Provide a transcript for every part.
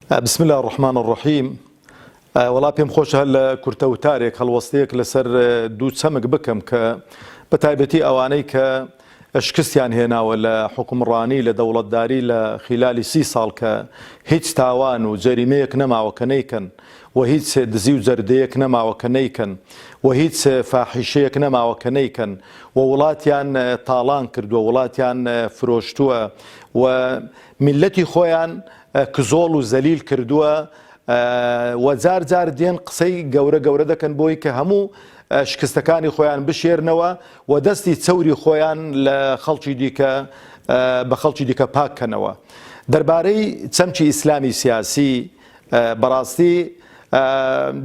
بسم اللە الرحمن الرحیم وەڵا پێم خۆشە هەر لە کورتە وتارێک هەڵوەستەیەک لەسەر دوو چەمک بکەم کە بە تایبەتی ئەوانەی کە شکستیان هێناوە لە حکومڕانی لە دەوڵەتداری لە خیلالی سی ساڵ کە هیچ تاوان و جەریمەیەک نەماوە کە نەیکەن و هیچ دزی و جەردەیەک نەماوە کە نەیکەن و هیچ فاحیشەیەک نەماوە کە نەیکەن و وڵاتیان تاڵان کردووە وڵاتیان فرۆشتووە و میلەتی خۆیان کزۆڵ و زەلیل کردووە و جار جار دێن قسەی گەورە گەورە دەکەن بۆی کە هەموو شکستەکانی خۆیان بشێرنەوە و دەستی چەوری خۆیان لە خەڵکی دیکە بە خەڵکی دیکە پاک کەنەوە دەربارەی چەمکی ئیسلامی سیاسی بەڕاستی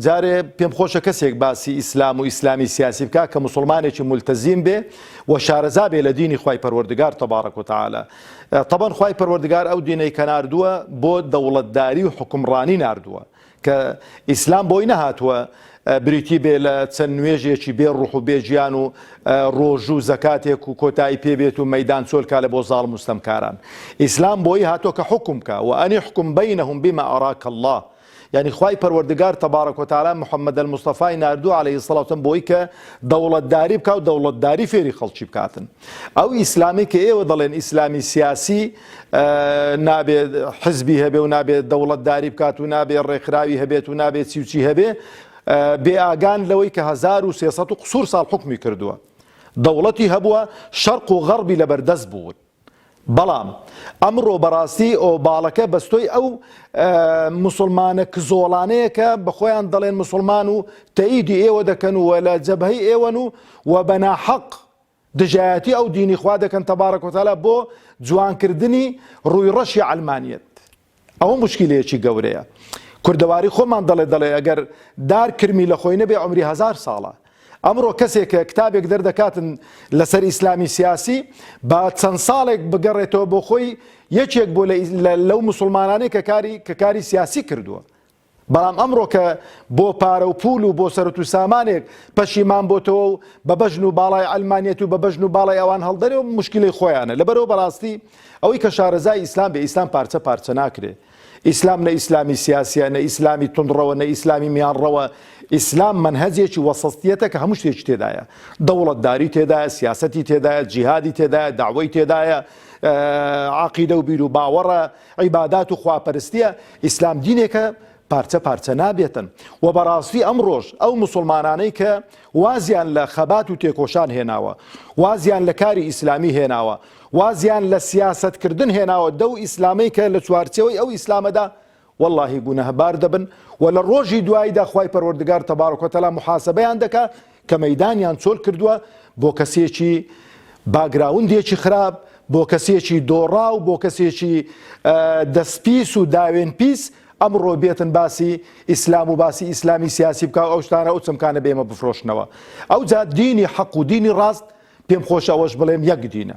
جارێ پێم خۆشە کەسێک باسی ئیسلام و ئیسلامی سیاسی بکە کە مسلمانێکی ملتەزیم بێ و شارەزا بێ لە دینی خی پەروەردگار تەبارەک و تعاالە تەبەن خوای پەروەردگار ئەو دینەی کە ناردووە بۆ دەوڵەتداری و حوکمڕانی ناردووە کە ئیسلام بۆی نەهاتووە بریتی بێ لە چەند نوێژێکی بێ ڕوح و بێ گیان و ڕۆژوو زەکاتێک و کۆتایی پێبێت و مەدان چۆلکا لە بۆ زاڵ مستەمکاران ئیسلام بۆی هاتۆ کە حکومکە و ئەنی حکوم بینەهم بما ئەراک الله یانی خوای پەروەردگار تبارک و تعالی محمد المصطفی ناردووە علیە الصلوة والسلام بۆی کە دەوڵەتداری بکا و دەوڵەتداری فێری خەڵکی بکاتن ئەو ئیسلامی کە ئێوە دەڵێن ئیسلامی سیاسی نابێ حزبی هەبێ و نابێت دەوڵەتداری بکات و نابێ ڕێکخراوی هەبێت و نابێت چیوچی هەبێ بێ ئاگان لەوەی کە 1300 قسوور ساڵ حکمی کردووە دەوڵەتی هەبووە شەرق و غەڕبی لەبەردەست بوون بەڵام ئەمڕۆ بەڕاستی ئۆباڵەکە بەستۆی ئەو موسڵمانە کزۆڵانەیە کە بە خۆیان دەڵێن موسڵمان و تەیدی ئێوە دەکەن و لە جەبهەی ئێوەن و و بەناحەق دژایەتی ئەو دینی خوا دەکەن تەبارەکۆتەلا بۆ جوانکردنی ڕووی ڕەشی عەلمانیەت. ئەوە موشکیلەیەکی گەورەیە کوردەواری خۆمان دەڵێ دەڵێ ئەگەر دار کرمی لە خۆی نەبێ عومری هەزار ساڵە ئەمڕۆ کەسێک کە کتابێک دەردەکاتن لەسەر ئیسلامی سیاسی با چەند ساڵێک بگەڕێتەوە بۆ خۆی یەکێک بۆ لەو مسلمانانەی کە کاری کە کاری سیاسی کردووە بەڵام ئەمڕۆ کە بۆ پارە و پوول و بۆ سەرت و سامانێک پەشیمان بۆتەوە و بە بەژن و باڵای عەلمانیەت و بە بەژن و باڵای ئەوان هەڵدەرێ و موشکیلەی خۆیانە لەبەرەوە بەڕاستی ئەوەی کە شارەزای ئیسلام بێ ئیسلام پارچە پارچە ناکرێ ئیسلام نە ئیسلامی سیاسیە نە ئیسلامی توندڕەوە نە ئیسلامی میانڕەوە ئیسلام منهەجێکی وەسەستیەتە کە هەموو شتێکی تێدایە دەوڵەتداری تێدایە سیاسەتی تێدایە جیهادی تێدایە داوای تێدایە عقیدە و بیر و باوەڕە عیبادات و خواپەرستیە، ئیسلام دینێکە پارچە پارچە نابێتن و بەڕاستی ئەمڕۆش ئەو موسڵمانانەی کە وازیان لە خەبات و تێکۆشان هێناوە، وازیان لە کاری ئیسلامی هێناوە، وازیان لە سیاسەتکردن هێناوە دەو ئیسلامەی کە لە چوارچێوەی ئەو ئیسلامەدا، وەڵاهی گوناهبار دەبن و لە ڕۆژی دواییدا خوای پەروەردگار تبارک و تعالی محاسبەیان دەکا، کە مەیدانیان چۆل کردووە بۆ کەسێکی باگراوندێکی خراپ، بۆ کەسێکی دۆڕاو، بۆ کەسێکی دەست پیس و داوێن پیس، ئەمڕۆ بێتن باسی ئیسلام و باسی ئیسلامی سیاسی بکا و ئەو شتانە ئەو چەمکانە بە ئێمە بفرۆشنەوە. ئەوجا دینی حەق و دینی ڕاست پێم خۆشە ئەوەش بڵێم یەک دینە.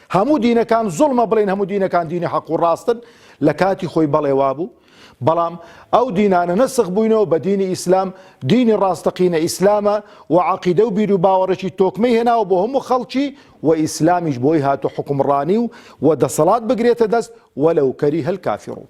هەموو دینەکان زوڵمە بڵێین هەموو دینەکان دینی حەق و ڕاستن لە کاتی خۆی بەڵێ وابوو بەڵام ئەو دینانە نەسخ بووینەوە بە دینی ئیسلام دینی ڕاستەقینە ئیسلامە و عقیدە و بیر و باوەڕێکی تۆکمەی هێناوە بۆ هەموو خەڵکی و ئیسلامیش بۆی هاتو حکومڕانی و و دەسەڵات بگرێتە دەست وەلەو کەری هەل کافی ڕوو